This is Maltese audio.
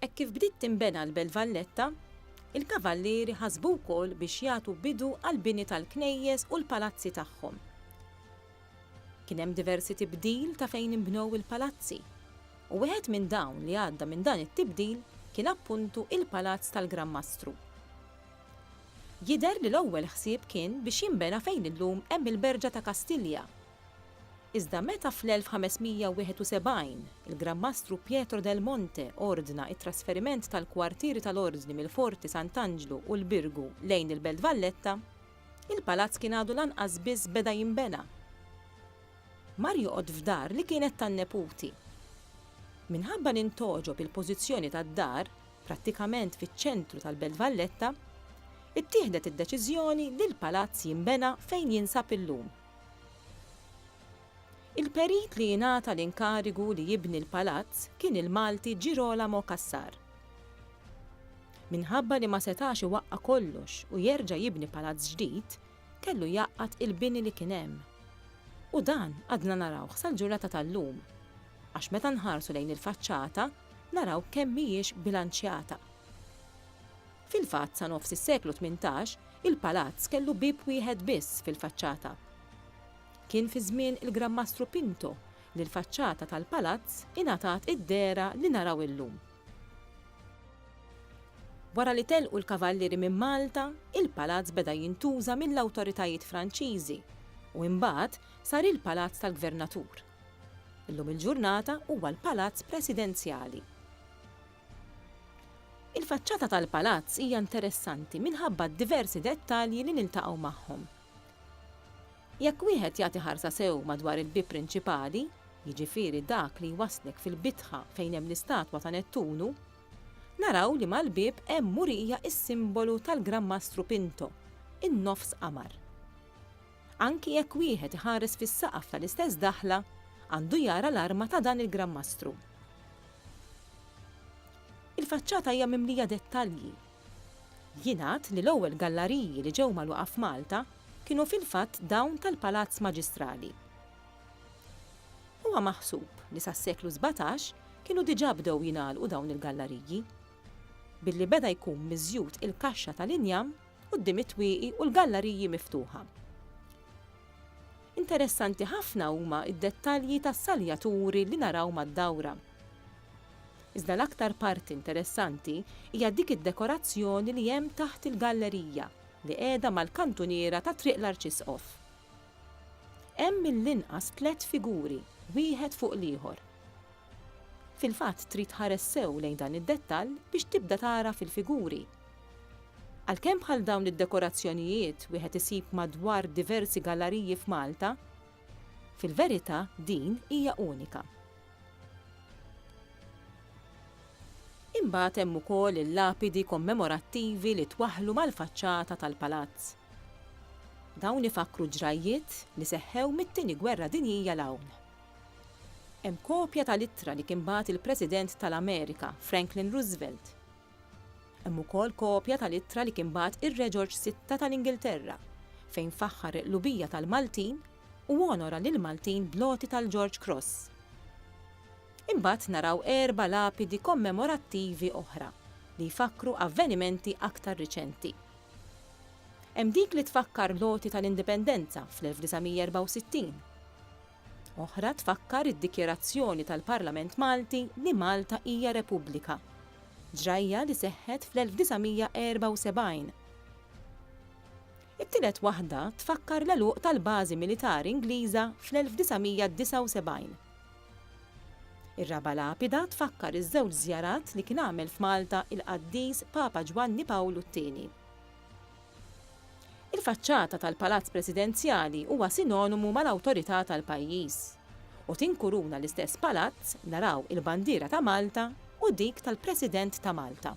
Hekk kif bdiet tinbena l-Belt Valletta, il-Kavallieri ħasbu wkoll biex jagħtu bidu għall-bini tal-knejjes u l-palazzi tagħhom. Kien hemm diversi tibdil ta' fejn inbnew il-palazzi, u wieħed minn dawn li għadda minn dan it-tibdil kien appuntu il-Palazz tal-Gran Mastru. Jidher li l-ewwel ħsieb kien biex jinbena fejn illum hemm il-Berġa ta' Kastilja, Iżda meta fl-1571 il-Gran Mastru Pietro del Monte ordna t-trasferiment tal-kwartieri tal-Ordni mill-Forti Sant'Anġlu u l-Birgu lejn il-Belt Valletta, il-palazz kien għadu lanqas biss beda jinbena. Mar joqgħod f'dar li kienet tan-neputi. Minħabba li ntogħġob il-pożizzjoni tad-dar, prattikament fiċ-ċentru tal-Belt Valletta, ittieħdet id-deċiżjoni li l-palazz jinbena fejn jinsab illum. Il-perit li ingħata l-inkarigu li jibni l-palazz kien il-Malti Girolamo Cassar. Minħabba li ma setax iwaqqa' kollox u jerġa' jibni palazz ġdid, kellu jgħaqqad il-bini li kien hemm. U dan għadna narawh sal-ġurnata tal-lum, għax meta nħarsu lejn il-faċċata naraw kemm mhijiex bilanċjata. Fil-fatt sa nofs is-seklu tmintax, il-palazz kellu bieb wieħed biss fil-faċċata. Kien fi żmien il-Gran Mastru Pinto li l-faċċata tal-palazz ingħatat id-dehra li naraw illum. Wara li telqu l-Kavallieri minn Malta, il-palazz beda jintuża mill-awtoritajiet Franċiżi u imbagħad sar il-Palazz tal-Gvernatur. Illum il-ġurnata huwa l-Palazz Presidenzjali. Il-faċċata tal-palazz hija interessanti minħabba d-diversi dettalji li niltaqgħu magħhom. Jekk wieħed jagħti ħarsa sew madwar il-bieb prinċipali, jiġifieri dak li jwasslek fil-bitħa fejn hemm l-istatwa ta' Nettunu, naraw li mal-bieb hemm murija s-simbolu tal-Gran Mastru Pinto, in-nofs qamar. Anki jekk wieħed iħares fis-saqaf tal-istess daħla, għandu jara l-arma ta' dan il-Gran Mastru. Il-faċċata hija mimlija dettalji. Jingħad li l-ewwel gallariji li ġew magħluqa f'Malta kienu fil-fatt dawn tal-Palazz Maġistrali. Huwa maħsub li sas-seklu sbatax kienu diġà bdew jingħalqu dawn il-gallariji, billi beda jkun miżjud il-kaxxa tal-injam quddiem it-twieqi u l-gallariji miftuħa. Interessanti ħafna huma d-dettalji tas-saljaturi li naraw mad-dawra. Iżda l-aktar parti interessanti hija dik id-dekorazzjoni li hemm taħt il-gallerija li qiegħda mal-kantuniera ta' Triq l-Arċisqof. Hemm mill-inqas tliet figuri, wieħed fuq l-ieħor. Fil-fatt trid tħares sew lejn dan id-dettall biex tibda tagħraf il-figuri Għalkemm bħal dawn id-dekorazzjonijiet wieħed isib madwar diversi gallariji f'Malta, fil-verità din hija unika. Imbagħad hemm ukoll il-lapidi kommemorattivi li twaħħlu mal-faċċata tal-palazz. Dawn ifakkru ġrajjiet li seħħew mit-Tieni Gwerra Dinjija 'l hawn. Hemm kopja tal-ittra li kien bagħat il-President tal-Amerika, Franklin Roosevelt, Hemm ukoll kopja tal-ittra li kien bagħat ir-Re Ġorġ Sitta tal-Ingilterra, fejn faħħar il-qlubija tal-Maltin u onora lill-Maltin bl-għoti tal-George Cross. Imbagħad naraw erba' lapidi kommemorattivi oħra li jfakkru avvenimenti aktar riċenti. Hemm dik li tfakkar l-għoti tal-Indipendenza fl-1964, Oħra tfakkar id-dikjarazzjoni tal-Parlament Malti li Malta hija Repubblika. Ġrajja li seħħet fl-1974. It-tielet waħda tfakkar l-għeluq tal-bażi militari Ingliża fl-1979. Ir-raba' lapida tfakkar iż-żewġ żjarat li kien għamel f'Malta il-Qaddis Papa Ġwanni Pawlu t-Tieni. Il-faċċata tal-Palazz Presidenzjali huwa sinonimu mal-awtorità tal-pajjiż u tinkuruna l-istess palazz, naraw il-bandiera ta' Malta u dik tal-President ta' Malta.